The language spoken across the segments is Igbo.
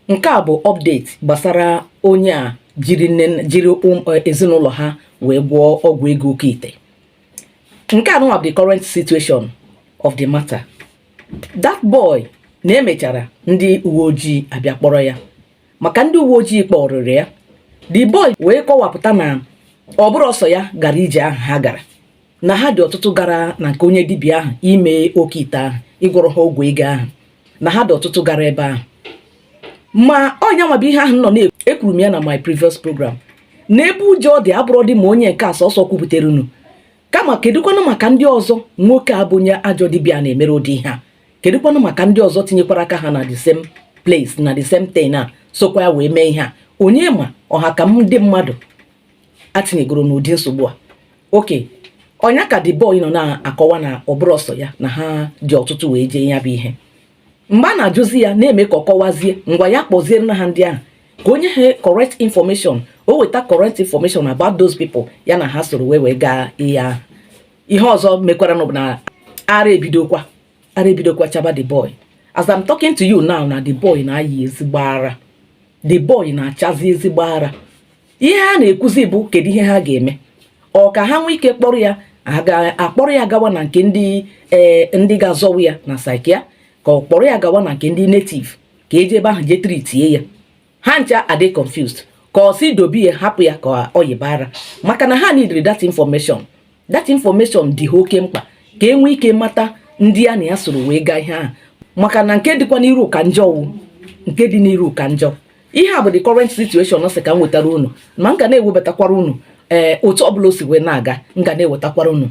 nke a bụ update gbasara onye a jiri nne jiri e, ezinụlọ ha wee gwọọ ọgwụ ego oke ite nke a nụwa bụ the current situation of the matter that boy na emechara ndị uwe ojii abịa kpọrọ ya ma ka ndị uwe ojii kpọrịrị ya the boy wee kọwapụta na ọ bụrọ sọ ya gara ije ahụ ha gara na ha dị ọtụtụ gara na nke onye dibịa ahụ ime oke ite ahụ ịgwọrọ ha ọgwụ ego ahụ na ha dị ọtụtụ gara ebe ahụ ma ọ nya nwa bụ ihe ahụ nọ na-ekwuru m ya na my previous program na ebe ụjọ dị abụrọdị ma onye nke a sọsọ kwupụtara unu kama kedụkwanụ maka ndị ọzọ nwoke a bụ onye ajọ dibịa na-emere ụdị ihe a kedụkwanụ maka ndị ọzọ tinyekwara aka ha na the same place na the same thing a sokwa ya wee mee ihe a onye ma ọha ka ndị mmadụ ha tinyegoro n'ụdị nsogbu a okay ọ nya ka the boy nọ na-akọwa na ọ bụrọ sọ ya na ha dị ọtụtụ wee jee ya bụ ihe mgbe a na-ajụzi ya na-eme ka ọ kọwazie ngwa ya kpọzienụ aha ndị ahụ ka o nye ha correct information o weta correct information about those people ya na ha soro wee wee gaa ihe ahụ ihe ọzọ mekwaranụ na ara ebidokwa ara ebidokwa chaba the boy as I'm talking to you now na the boy na-ayị ezigbo ara the boy na-achazi ezigbo ara ihe ha na-ekwuzi bụ kedu ihe ha ga-eme ọ ka ha nwee ike kpọrọ ya a kpọrọ ya gawa na nke ndị eh, ndị ga-azọwu ya na psychia ka ọ kpọrọ ya gawa na nke ndị native ka e jee ebe ahụ jee tritie ya ha ncha adị confused ka ọ sị dobe ya hapụ ya ka ọ yịba ara maka na ha nidiri that information that information dị ha oke mkpa ka e nwee ike mata ndị a na ya soro wee gaa ihe ahụ maka na nke dịkwa n'iru ka njọ wụ nke dị n'iru ka njọ ihe a bụ the current situation sị ka m wetara unu ma m ga na-ewebatakwara unu ee eh, otu ọbụla o si wee na-aga m ga na-ewetakwara unu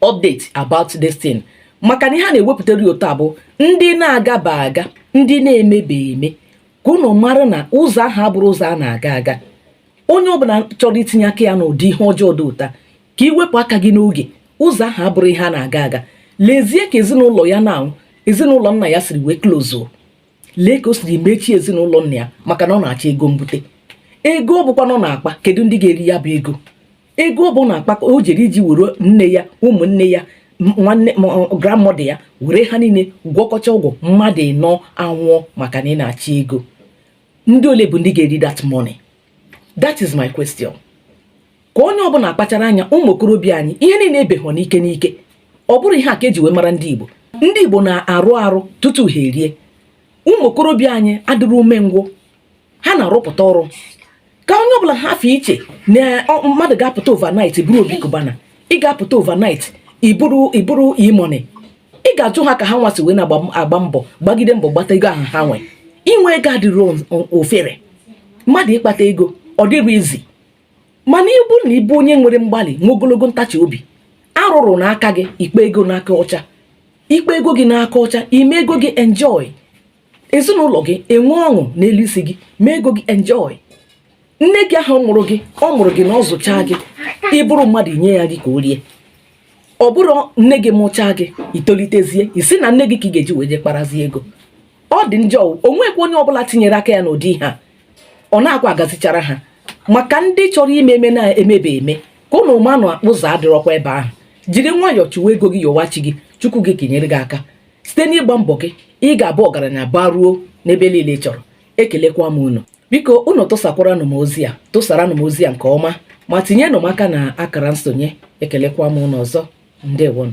update about this thing maka na ihe a na-ewepụtara ya otu a bụ ndị na-agaba aga ndị na-emebe eme ka unu mara na ụzọ ahụ abụrọ ụzọ a na-aga aga onye ọbụla chọrọ itinye aka ya n'ụdị ihe ọjọọ dị otu a ka i wepụ aka gị n'oge ụzọ ahụ abụrọ ihe a na-aga aga lezie ka ezinụlọ ya nụwa ezinụlọ nna ya siri wee klozuo lee ka o siri mechie ezinụlọ nna ya maka na ọ na-achọ ego mbute ego ọ bụkwanụ ọ na-akpa kedu ndị ga-eri ya bụ ego ego ọ bụ ọ na-akpa ka o jere iji were nne ya ụmụnne ya nwanne grandmother ya were ha niile gwọkọcha ọgwụ mmadụ ịnọ anwụọ maka na ị na-achọ ego ndị ole bụ ndị ga-eri that money that is my question ka onye ọbụla kpachara anya ụmụ okorobịa anyị ihe niile abụghị n'ike n'ike ọ bụrọ ihe a ka e ji wee mara ndị Igbo ndị Igbo na-arụ arụ tutu ha erie ụmụ okorobịa anyị adịrọ umengwụ ha na-arụpụta ọrụ ka onye ọbụla hapụ iche na mmadụ ga-apụta overnight bụrụ Obi Cubana ị ga-apụta overnight ị bụrụ ị bụrụ E-Money ị ga-ajụ ha ka ha nwa si wee na-agba mbọ gbagide mbọ gbata ego ahụ ha nwere inwe ego adịrọ ofere mmadụ ịkpata ego ọ dịrọ easy mana ị bụ na ị bụ onye nwere mgbalị nwee ogologo ntachi obi arụ ọrụ n'aka gị ị kpaa ego n'aka ọcha ị kpaa ego gị n'aka ọcha i mee ego gị enjoy ezinụlọ gị enwee ọṅụ n'elu isi gị mee ego gị enjoy nne gị ahụ mụrụ gị ọ mụrụ gị na ọ zụchaa gị ị bụrụ mmadụ i nye ya gị ka o rie ọ bụrụ nne gị mụchaa gị i tolitezie i si na nne gị ka ị ga-eji wee je kparazie ego ọ dị njọ o nwekwa onye ọbụla tinyere aka ya n'ụdị ihe a ọ na-akwa agazichara ha maka ndị chọrọ ime eme na-emebe eme ka ụnụ ma na ụzọ adịrọkwa ebe ahụ jiri nwayọọ chụwa ego gị yọwa chi gị chukwu gị ka e nyere gị aka site n'ịgba mbọ gị ị ga-abụ ọgaranya baruo n'ebe niile ị chọrọ ekelekwa m unu biko unu tụsakwaranụ m ozi a tụsaranụ m ozi a nke ọma ma tinyenụ m aka na akara nsonye ekelekwa m unu ọzọ ndewonụ